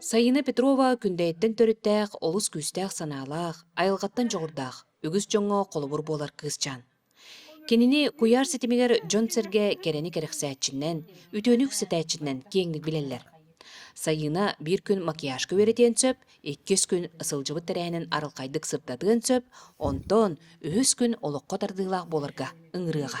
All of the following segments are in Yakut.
Сайына Петрова Күндэйиттэн төрүттээх, олус күүстээх санаалаах, айылҕаттан дьоҕурдаах, үгүс дьоҥҥо холобур буолар кыысчаан. Кинини куйаар ситимигэр дьон-сэргэ кэрэни кэрэхсээччинэн, үтүөнү үксэтээччинэн киэҥник билэллэр. Сайыына биир күн макияжка үөрэтиэн сөп, иккис күн сылдьыбыт тэрээһинин арылхайдык сырдатыан сөп, онтон үһүс күн олоххо тардыылаах буоларга ыҥырыаҕа.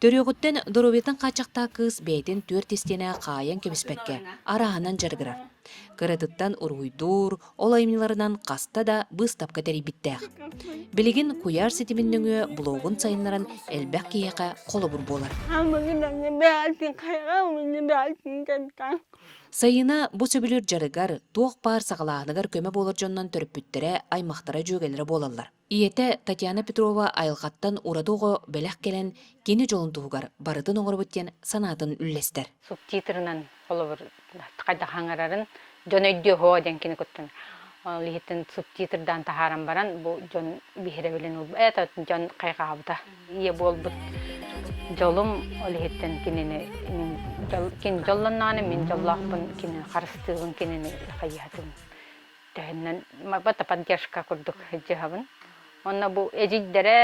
Төрүөҕүттэн доруобуйаттан хааччахтаах кыыс бэйэтин түөрт истиэнэҕэ хаайан кэбиспэккэ арааһынан дьарыгырар. Кыратыттан уруһуйдуур, ол айымньыларынан хаста да быыстапка тэрийбиттээх. Билигин куйаар ситимин нөҥүө блогун сайыннаран элбэх киһиэхэ холобур буолар. Сайыына бу сөбүлүүр дьарыгар туох баар саҕалааһыныгар көмө буолар дьоннон төрөппүттэрэ, аймахтара, дьүөгэлэрэ буолаллар. Ийэтэ Татьяна Петрова айылҕаттан ураты оҕо бэлэх кэлэн кини дьолун туһугар барытын оҥоробут диэн санаатын үллэстэр. субтитрынан холобур хайдах аҥарарын дьон өйдүө диэн кини куттан ол иһитин субтитрдаан таһааран баран бу дьон биһирэбилин ылба это дьон хайҕаабыта ийэ буолбут дьолум ол иһиттэн кинини дьол дьоллонноҕуна мин дьоллоохпун кинини харыстыыбын кинини хайыһатым Тэһиннэн барбата поддержка курдук дьыһабын. Онно бу эдьиийдэрэ,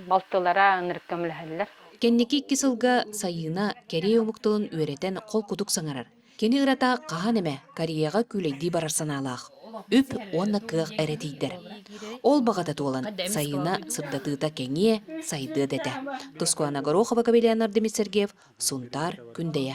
балтылара ынырык көмөлөһөллөр. Кэнники икки сылга Сайыына кэрие омук тылын үөрэтэн холкутук саҥарар. Кини ырата хаһан эмэ Кореяҕа күүлэйдии барар санаалаах. Үп уонна кыах эрэ тиийдэр. Ол баҕата туолан, Сайыына сырдатыыта кэҥиэ, сайдыа да этэ. Тускуана Горохова-Кавелянар Демид Сергеев, Сунтаар, Күндэйэ.